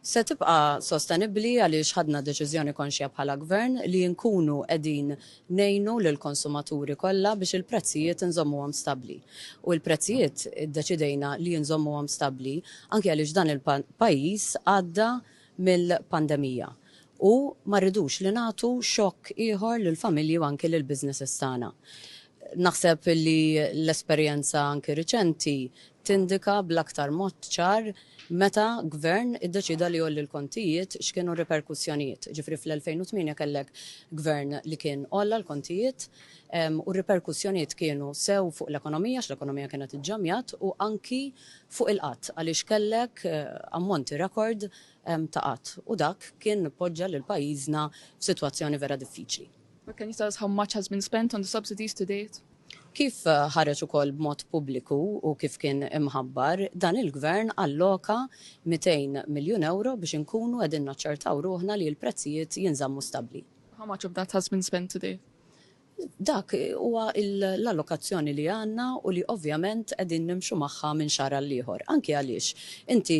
Se tibqa' sostenibbli għaliex ħadna deċiżjoni konxja bħala Gvern li nkunu qegħdin ngħinu lill-konsumaturi kollha biex il-prezzijiet inżommuhom stabbli. U l-prezzijiet iddeċidejna li inżommuhom stabbli anki għaliex dan il-pajjiż għadda mill-pandemija u ma rridux li nagħtu xokk ieħor lill-familji u anki lill-businesses tagħna. Naħseb li l-esperjenza anki riċenti tindika bl-aktar mod ċar meta Gvern iddeċieda li jgħolli l-kontijiet x'kienu r-riperkussjonijiet. Ġifieri fl-2008 kellek Gvern li kien għolla l-kontijiet u r-riperkussjonijiet kienu sew fuq l-ekonomija għax l-ekonomija kienet iġġammjat u anki fuq il-qgħad għaliex kellek ammonti rekord ta' qatt u dak kien poġġa lil pajjiżna f'sitwazzjoni vera diffiċli. But can you tell us how much has been spent on the subsidies to date? Kif ħareġ ukoll b'mod pubbliku u kif kien imħabbar, dan il-Gvern alloka mitejn miljun ewro biex inkunu qegħdin naċċertaw ruħna li l-prezzijiet jinżammu stabbli. How much of that has been spent to date? Dak huwa l-allokazzjoni li għandna u li ovvjament qegħdin nimxu magħha minn xahar għall-ieħor. Anki għaliex inti,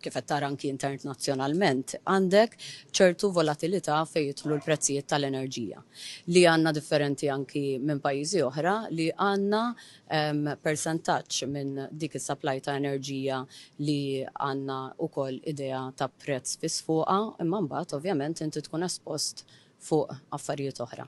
kif qed tara anki internazzjonalment, għandek ċertu volatilità fejn jidħlu l-prezzijiet tal-enerġija, li għandna differenti anki minn pajjiżi oħra li għandna persentaġġ minn dik is-supply ta' enerġija li għandna wkoll idea ta' prezz fiss fuqha, imma mbagħad ovvjament inti tkun espost fuq affarijiet oħra.